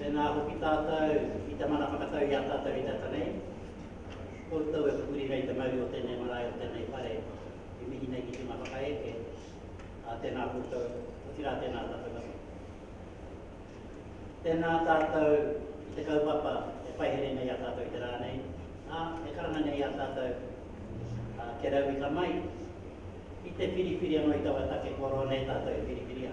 Tēnā hoki tātou i te mana whakatau i a tātou i te ata nei. Koutou e pupuri nei te mauri o tēnei marae, o tēnei whare, e mihi nei ki te hunga whakaeke, ā, tēnā koutou, otirā tēnā tātou anō. Tēnā tātou i te kaupapa e paihere nei i a tātou i te rā nei, ā, e karanga nei i a tātou, ā, kia rauika mai, ki te whiriwhiri anō i taua take kua roa nei tātou e whiriwhiria.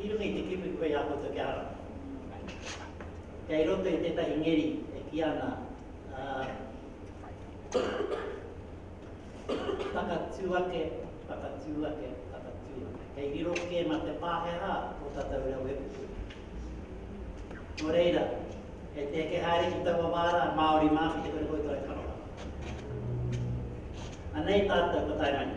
I runga i te kiwi koe a koutou kia ara. Kei roto i tētahi ngeri e kī ana, Takatū ake, takatū ake, takatū ake. Kei riro kē mā te Pākehā ō tātou reo e puku. Nō reira, kei te eke haere ki taua wā rā, Māori mā ki te kore koutou e kanorau. Anei tātou, ko Taimane.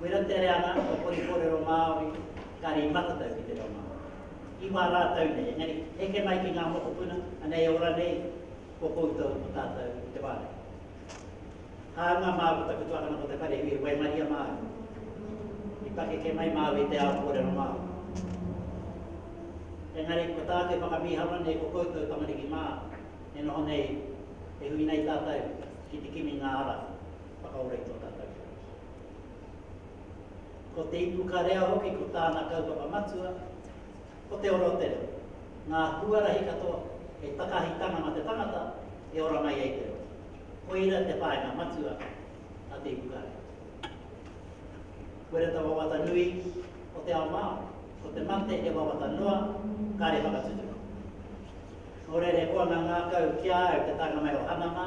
Wera te reanga o Hori Korero Māori, kare i matatau ki te reo Māori. I wā rātau nei, engari heke mai ki ngā mokopuna, anei ora nei, ko koutou ko tātau te wānanga. Hāunga māu ko taku tuakana ko te wharehui e waimaria māu, i pakeke mai māu i te ao kōrero Māori. Engari ko tāku e whakamīharo nei ko koutou tamariki mā, e noho nei, e hui nei tātau ki te kimi ngā ara whakaora i tō tātau whare. Ko te ipu karea hoki ko tāna kaupapa matua, ko te ora o te reo, ngā huarahi katoa hei takahitanga mā te tangata e ora mai ai te reo. Koira te whāinga matua a te ipu karea. Koira te wawata nui o te ao Māori, ko te mate he wawata noa, kāre whakatutuki. Nō reira he koanga ngākau ki a au te taenga mai o Hana mā,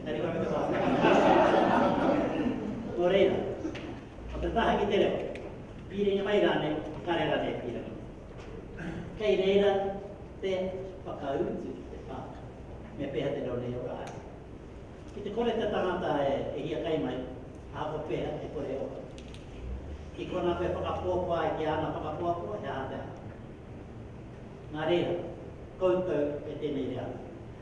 Engari ka puta wāhanga ki te kōrero i tōna whakaaro. Nō reira, ko te taha ki te reo, pīrere mai rānei, kare rānei ki runga. Kei reira te whakautu ki te whānau, me pēhea te reo nei e ora ai. Ki te kore te tangata e hiakai mai, ahakoa pēhea e kore e ora. Ki konā koe e whakapuapua ai ki āna whakapuapua, he aha te aha. Nā reira, koutou e tēnei reanga.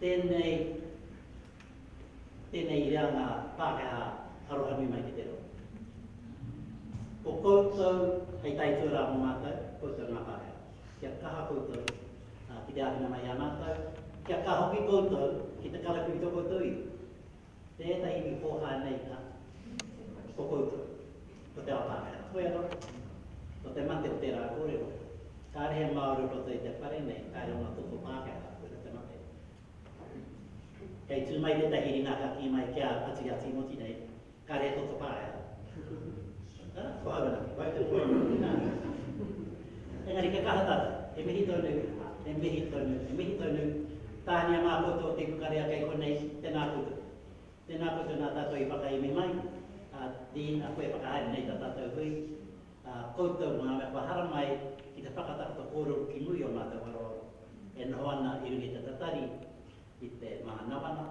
Tēnei, tēnei i reanga Pākehā aroha nui mai ki te reo. Ko koutou hei tae tuarā mō mātou, koutou ngā Pākehā. Kia kaha koutou ki te āwhina mai i a mātou, kia kaha hoki koutou ki te karakiritō koutou iwi. Tēnā iwi pōhā nei nā, ko koutou, ko te ao Pākehā, ko ia roto, ko te mate o tērā kōrero, kāre he Māori o roto i te whare nei, kāre ōna toto Pākehā, koira te mate. Kei tū mai tētahi ringa ka kī mai ki a Patu i a Tīmoti nei, kāre he toto Pākehā. Whānau, wai te poi mō te nā. Engari kia kaha tātou, he mihi tonu, he mihi tonu, he mihi tonu, tāhania mā koutou te kukarea kei konei, tēnā koutou. Tēnā koutou nā tātou i whakaemi mai, ā, Dean, a koe e whakahaere nei tā tātou hui, ā, koutou ngā mea kua hara mai ki te whakatakoto kōrero ki muri o mātou aroaro e noho ana i runga i te tatari, i te mānawana,